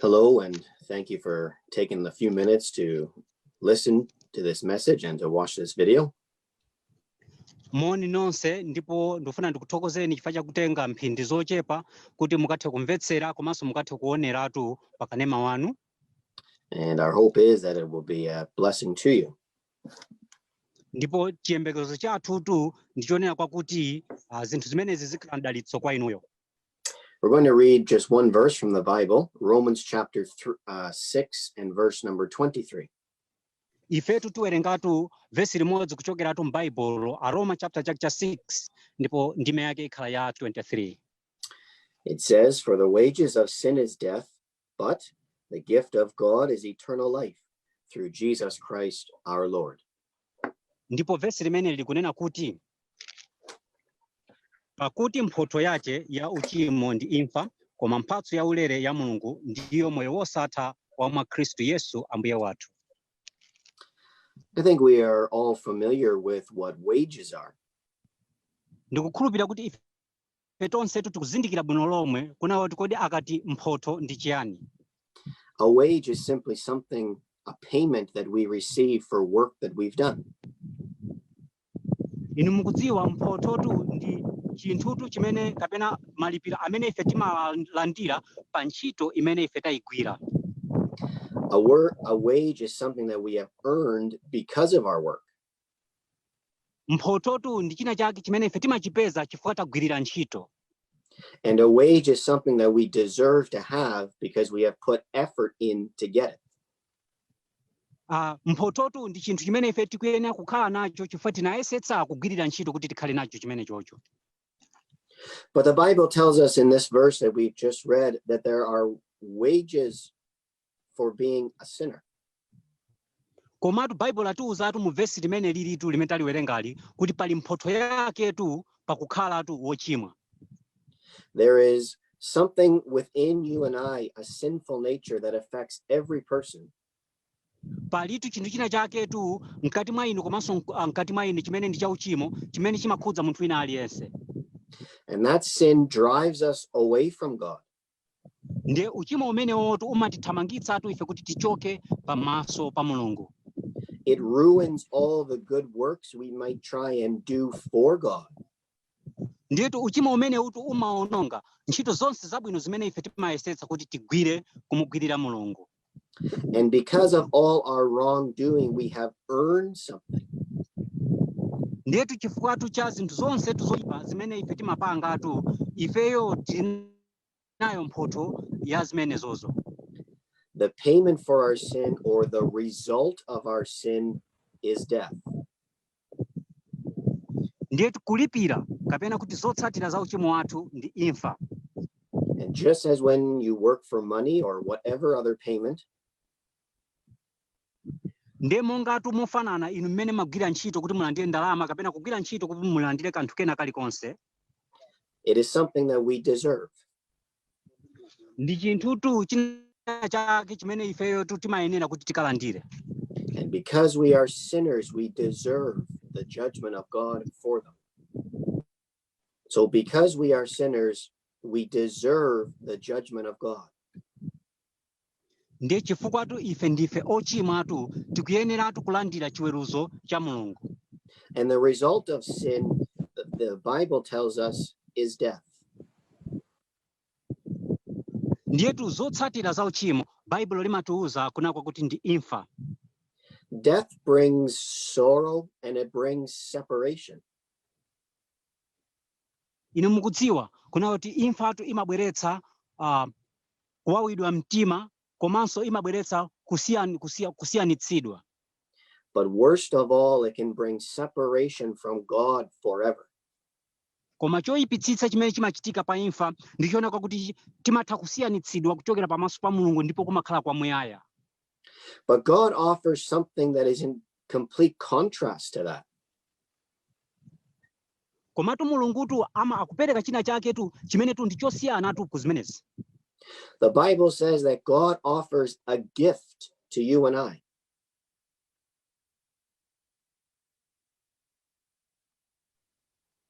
Hello, and thank you for taking the few minutes to listen to this message and to watch this video. moni nonse ndipo ndikufuna ndikuthokozeni chifukwa chakutenga mphindi zochepa kuti mukathe kumvetsera komanso mukathe kuoneratu pakanema wanu And our hope is that it will be a blessing to you. ndipo chiyembekezo chathutu ndichonena kwakuti uh, zinthu zimenezi zikhala mdalitso kwa inuyo We're going to read just one verse from the Bible, Romans chapter th- uh, 6 and verse number 23. ifetu tiwerengatu vesi limodzi kuchokeratu m'baibulo aroma chapter chake cha 6 ndipo ndime yake ikhala ya 23 It says, For the wages of sin is death, but the gift of God is eternal life through Jesus Christ our Lord. Ndipo vesi limeneli likunena kuti pakuti mphotho yace ya uchimo ndi imfa koma mphatso ya ulere ya Mulungu ndiyo moyo wosatha wa mwa Kristu Yesu Ambuye wathu. I think we are all familiar with what wages are. Ndikukhulupirira kuti ife tonsetu tikuzindikira bwino lomwe kunena kuti kodi akati mphotho ndi chiyani. A wage is simply something, a payment that we receive for work that we've done. Inu mukudziwa mphothotu ndi chinthutu chimene kapena malipiro amene ife timalandira pa ntchito imene ife tayigwira. A, wor- a wage is something that we have earned because of our work. mphothotu ndi china chake chimene ife timachipeza chifukwa tagwirira ntchito And a wage is something that we deserve to have because we have put effort in to get it. Uh, mphothotu ndi chinthu chimene ife tikuyenera kukhala nacho chifukwa tinayesetsa kugwirira ntchito kuti tikhale nacho chimenechocho But the Bible tells us in this verse that we've just read that there are wages for being a sinner. komatu baibulo latiuzatu mu vesi limenelitu limene taliwerengali kuti pali mphotho yaketu pakukhalatu wochimwa There is something within you and I, a sinful nature that affects every person. palitu chinthu china chaketu mkati mwa ine komanso mk- ah, mkati mwa inu chimene ndi chauchimo chimene chimakhudza munthu wina aliyense And that sin drives us away from God. ndiye uchimo umenewutu umatithamangitsatu ife kuti tichoke pamaso pa mulungu It ruins all the good works we might try and do for God. ndiyetu uchimo umenewutu umaononga ntchito zonse zabwino zimene ife timayesetsa kuti tigwire kumugwirira mulungu And because of all our wrongdoing, we have earned something. ndiyetu chifukwatu cha zinthu zonse tu zoipa zimene ife timapangatu ifeyo tinayo mphotho ya zimenezozo The payment for our sin or the result of our sin is death. ndiye kulipira kapena kuti zotsatira za uchimo wathu ndi imfa And just as when you work for money or whatever other payment, ndiye mongatu mofanana inu mmene mumagwira ntchito kuti mulandire ndalama kapena kugwira ntchito kuti mulandire kanthu kena kalikonse it is something that we deserve. ndi chinthutu china chake chimene ifeyo tu timayenera kuti tikalandire And because we are sinners, we deserve the judgment of God for them. So, because we are sinners, we deserve the judgment of God. ndiye chifukwatu ife ndife ochimwatu tikuyeneratu kulandira chiweruzo cha mulungu And the result of sin, the, the Bible tells us, is death. ndiyetu zotsatira za uchimo baibulo limatiuza kunena kwakuti ndi imfa Death brings sorrow and it brings separation. Inu mukudziwa, kunena kuti imfatu imabweretsa a, kuwawidwa mtima komanso imabweretsa kusiyan, kusiya, kusiyanitsidwa. But worst of all, it can bring separation from God forever. Koma choyipitsitsa chimene chimachitika pa imfa ndi chonena kwakuti timatha kusiyanitsidwa kuchokera pamaso pa Mulungu ndipo kumakhala kwamuyaya. But God offers something that is in complete contrast to that. Komatu Mulungutu ama akupereka china chaketu chimenetu ndi chosiyanatu ku zimenezi. The Bible says that God offers a gift to you and I.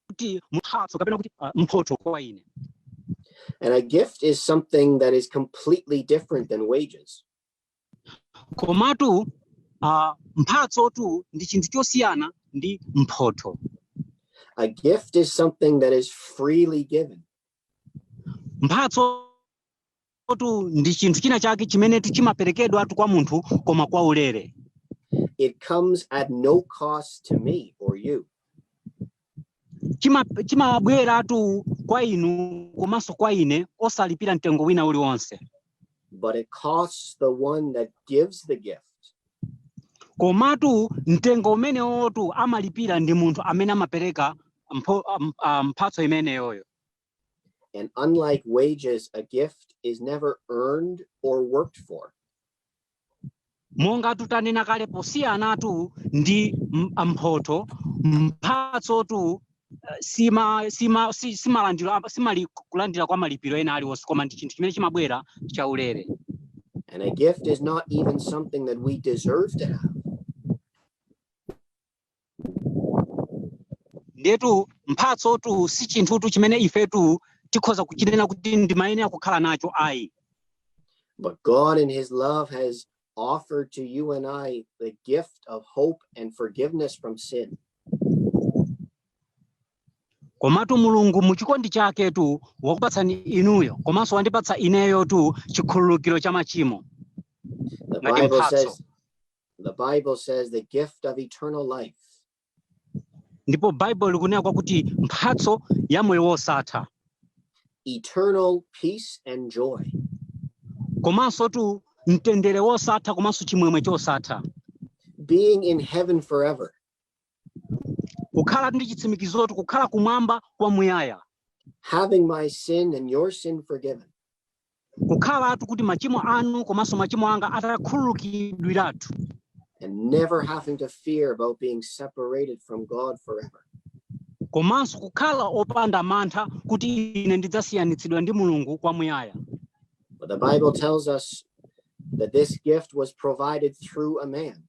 kuti mphatso kapena kuti ah, mphotho kwa ine And a gift is something that is completely different than wages. komatu uh, mphatsotu ndi chinthu chosiyana ndi mphotho A gift is something that is freely given. mphatsotu ndi chinthu china chake chimenetu chimaperekedwatu kwa munthu koma kwa ulere It comes at no cost to me or you. chima- chimabweratu kwa inu komanso kwa ine osalipira mtengo wina uliwonse but it costs the one that gives the gift. komatu mtengo umenewotu amalipira ndi munthu amene amapereka mpho- am- ah, mphatso imeneyoyo And unlike wages, a gift is never earned or worked for. mongatu tanena kale posiyanatu ndi m- mphoto mphatsotu eh, sima sima si- simalandira pa- simali kulandira kwa malipiro ena aliwonse koma ndi chinthu chimene chimabwera chaulere And a gift is not even something that we deserve to have. ndetu mphatsotu si chinthutu chimene ifetu tikhoza kuchinena kuti ndimayenera kukhala nacho ayi But God, in His love, has offered to you and I the gift of hope and forgiveness from sin. komatu mulungu mu chikondi chaketu wakupatsani inuyo komanso wandipatsa ineyotu chikhululukiro cha machimo The Like in Bible Patso. says, The Bible says the gift of eternal life. ndipo baibulo likunena kwakuti mphatso ya moyo wosatha eternal peace and joy. komansotu mtendere wosatha komanso chimwemwe chosatha Being in heaven forever. kukhalatu ndi chitsimikizotu kukhala kumwamba kwamuyaya having my sin and your sin forgiven kukhalatu kuti machimo anu komanso machimo anga atakhululukidwiratu and never having to fear about being separated from God forever komanso kukhala opanda mantha kuti ine ndidzasiyanitsidwa ndi mulungu kwamuyaya But the Bible tells us that this gift was provided through a man.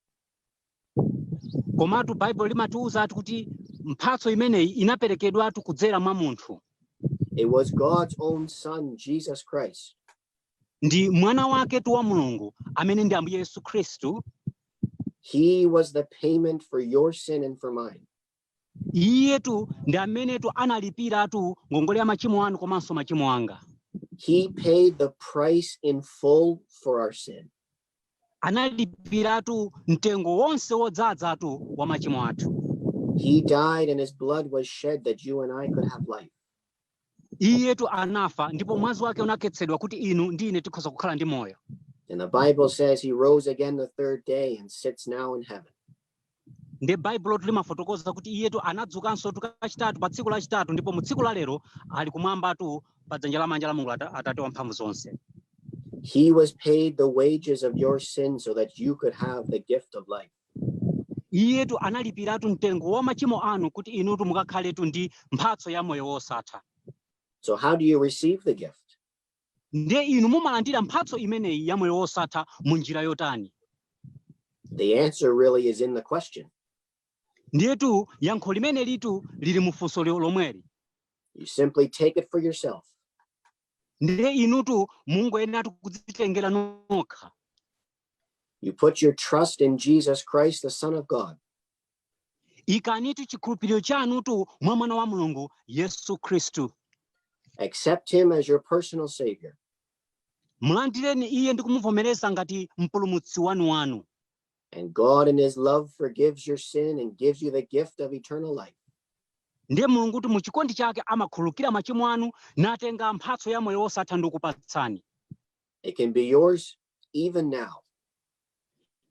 komatu baibulo limatiwuza ati kuti mphatso imeneyi inaperekedwatu kudzera mwa munthu It was God's own Son, Jesus Christ, ndi mwana waketu wa mulungu amene ndi ambuye yesu khristu He was the payment for your sin and for mine. iyetu ndi amenetu analipiratu ngongole ya machimo anu komanso machimo anga he paid the price in full for our sin analipiratu mtengo wonse wodzadzatu wa machimo athu he died and his blood was shed that you and i could have life iyetu anafa ndipo mwazi wake unakhetsedwa kuti inu ndi ine tikhoza kukhala ndi moyo And the Bible says he rose again the third day and sits now in heaven. nde baibulotu limafotokoza kuti iyetu anadzukansotu kachitatu pa tsiku lachitatu ndipo mu tsiku la lero ali kumwambatu pa dzanja lamanja la mulungu Ata- atate wa mphamvu zonse He was paid the wages of your sin so that you could have the gift of life. iyetu analipiratu mtengo wa machimo anu kuti inutu mukakhaletu ndi mphatso ya moyo wosatha so how do you receive the gift ndiye inu mumalandira mphatso imeneyi ya moyo wosatha mu njira yotani the answer really is in the question ndiyetu yankho limenelitu lili mufunso lomweli you simply take it for yourself ndiye inutu mungoyenera kudzitengera nokha You put your trust in Jesus Christ, the Son of God. ikanitu chikhulupiriro chanutu mwa mwana wa mulungu yesu khristu Accept him as your personal Savior. mulandireni iye ndi kumuvomereza ngati mpulumutsi wanu wanu And God, in his love, forgives your sin and gives you the gift of eternal life. ndiye mulungutu mu chikondi chake amakhululukira machimo anu natenga mphatso ya moyo wosatha ndi kukupatsani It can be yours even now.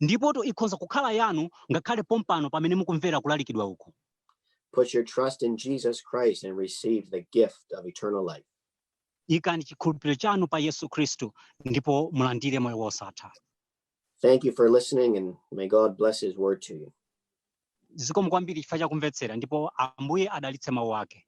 Ndipotu ikhonza kukhala yanu ngakhale pompano pamene mukumvera kulalikidwa uku. Put your trust in Jesus Christ and receive the gift of eternal life. Ikani chikhulupiriro chanu pa Yesu Kristu ndipo mulandire moyo wosatha. Thank you for listening and may God bless his word to you. Zikomo kwambiri chifukwa chakumvetsera ndipo Ambuye adalitse mawu ake.